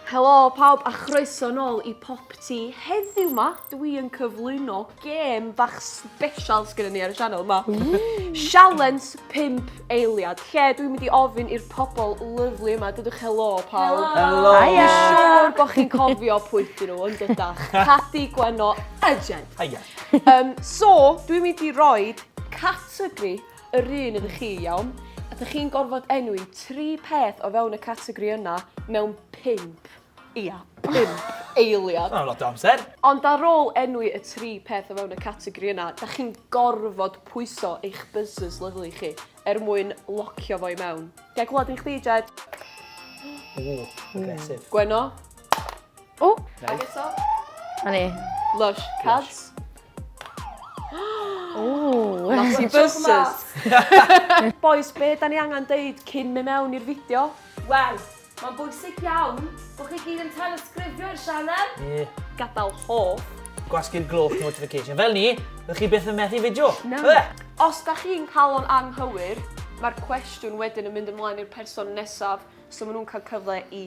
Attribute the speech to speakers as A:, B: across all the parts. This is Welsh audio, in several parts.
A: Helo pawb a chroeso nôl i Pop Ti. Heddiw ma, dwi yn cyflwyno gêm bach special sgynnon ni ar y sianel ma. Sialens 5 eiliad, lle dwi'n mynd i ofyn i'r pobl lyflu yma, dydwch helo pawb. Helo! Hiya! Dwi'n
B: siŵr
A: bod chi'n cofio pwy dyn nhw yn dydach. Cadi Gwenno a Jed. Hiya! Um, so, dwi'n mynd i roi categori Yr un ydych chi, iawn? A dych chi'n gorfod enwi tri peth o fewn y categori yna mewn pump, ia, pump eiliad. Mae'n lot o amser.
B: Ond ar ôl
A: enwi y tri peth o fewn y categori yna, dych chi'n gorfod pwyso eich buzzers lyfli chi er mwyn locio fo i mewn. Ga i glywed un chdi, Jed? Ww,
B: aggressive. Gwenno?
A: O! Ag eto. A
C: ni. Lush. Cads. Ooh. Nasty buses.
A: Boys, be da ni angen deud cyn mynd mewn i'r fideo? Wel,
D: mae'n bwysig iawn bod chi gyd yn telesgrifio i'r sianel. Ie. Gadael hoff.
A: Gwasgu'r gloch
B: notification. Fel ni, rydych chi byth yn methu fideo. Na. Os
A: da chi'n cael o'n anghywir, mae'r cwestiwn wedyn yn mynd ymlaen i'r person nesaf, so maen nhw'n cael cyfle i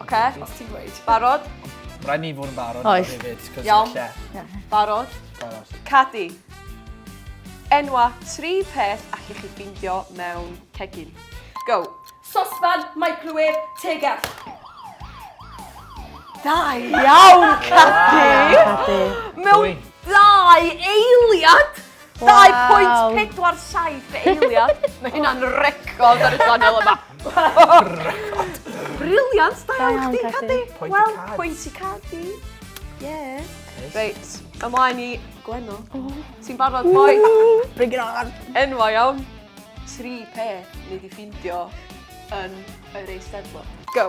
A: Oce, os ti'n gweud.
D: Barod?
A: Rhaid ni fod yn
B: barod. Oes. Iawn.
A: Barod? Barod. Cadi. Enwa tri peth allwch chi ffeindio mewn cegin. Go. Sosfan,
D: microwave, tegell.
A: Da iawn, Cadi! Mewn dau eiliad! 2.47 dy eiliad. Mae hynna'n record ar y channel yma. Record. Briliant, da iawn chdi, Cadi. Wel, pwynt i Cadi. Ie. Reit, ymlaen i Gwenno. Ti'n barod, boi? Bring it on.
C: Enwa iawn.
A: Tri peth ni di ffindio yn yr Eisteddfod. Go.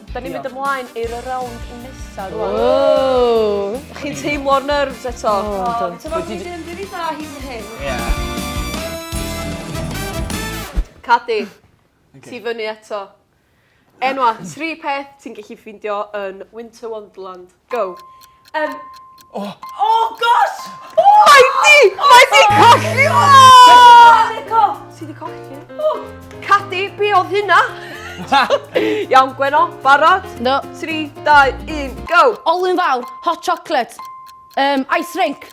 B: Da ni'n
A: mynd ymlaen i'r rownd nesa rwan.
C: Ww! Chi'n teimlo'r
A: nerves eto? O, do. Ti'n meddwl fi
D: ddim rili da hyd yn hyn. Ie.
A: Cadi, ti fyny eto. Enwa' tri peth ti'n gellu ffeindio yn Winter Wonderland. Go. Yym. O!
D: O gosh! O! Mae di!
A: Mae di colli! O!
D: Ti di colli?
A: O! Cadi, be oedd hynna? Iawn, Gweno, barod? No. 3, 2, 1, go! Olwyn fawr, hot
C: chocolate, um, ice rink.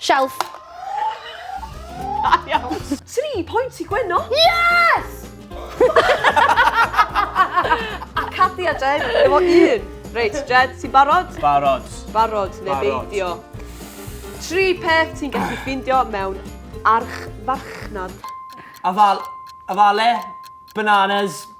C: Shelf. Da
A: iawn. Tri pwynt i Gwenno. Yes! A Cathy a Jed, efo un. Reit, Jed, ti'n barod? Barod. Barod,
B: neu
A: beidio. Tri peth ti'n gallu ffeindio mewn archfarchnad. Afal,
B: afale, bananas,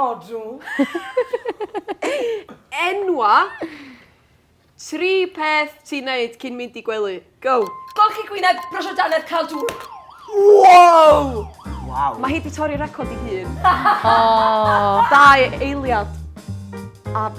D: Odw.
A: Enwa tri peth ti'n neud cyn mynd i gwely. Go! Golchi gwyneb,
D: brwsio dannedd, cael dŵr. Wow!
A: Wow.
B: Mae hi 'di torri record
A: 'i hun.
C: O! Dau
A: eiliad a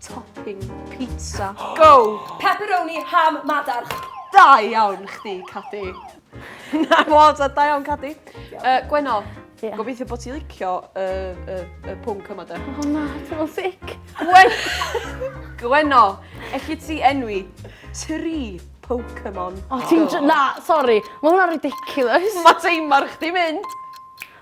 A: Topping pizza. Go! Pepperoni, ham,
D: madarch. Da iawn
A: chdi, Cadi. Na, fod, a da iawn, Cadi. Uh, Gwenno, yeah. gobeithio bod
C: ti licio
A: y uh, uh, uh, pwnc yma, da. O na, ti'n fel sic.
C: Gwen... Gwenno,
A: elli ti enwi tri Pokemon. O, ti'n... Na,
C: sori. Mae hwnna'n ridiculous. Mae teimar chdi
A: mynd.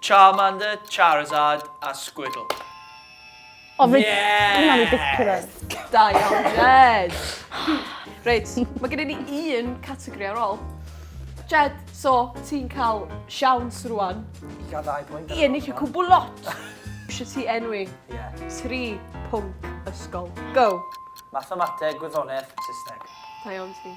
A: Charmander,
B: Charizard a Squirtle.
C: O, reit. Yes! Hwnna'n ridiculous. Da iawn,
A: Jed. Reit, mae gen i ni un categori ar ôl. Jed, so, ti'n cael siawns rwan. I gael ddau
B: bwynt. I ennill y cwbl lot.
A: Eisiau ti enwi tri pwnc ysgol. Go! Mathemateg,
B: gwyddoniaeth, Saesneg. Da iawn ti.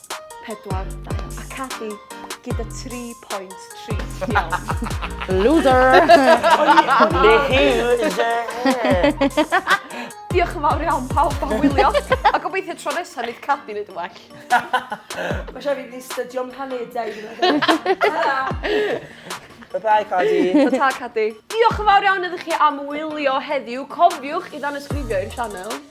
A: 42. A Cathy gyda 3.3. Iawn. Loser! Diolch yn fawr iawn pawb am wylio. A gobeithio tro nesaf nid Cathy nid yn well. Mae
D: siarad i ni stydio'n planedau. Bye-bye,
B: Cadi. Ta-ta, Cadi.
A: Diolch yn fawr iawn iddo chi am wylio heddiw. Cofiwch i ddannysgrifio i'r channel.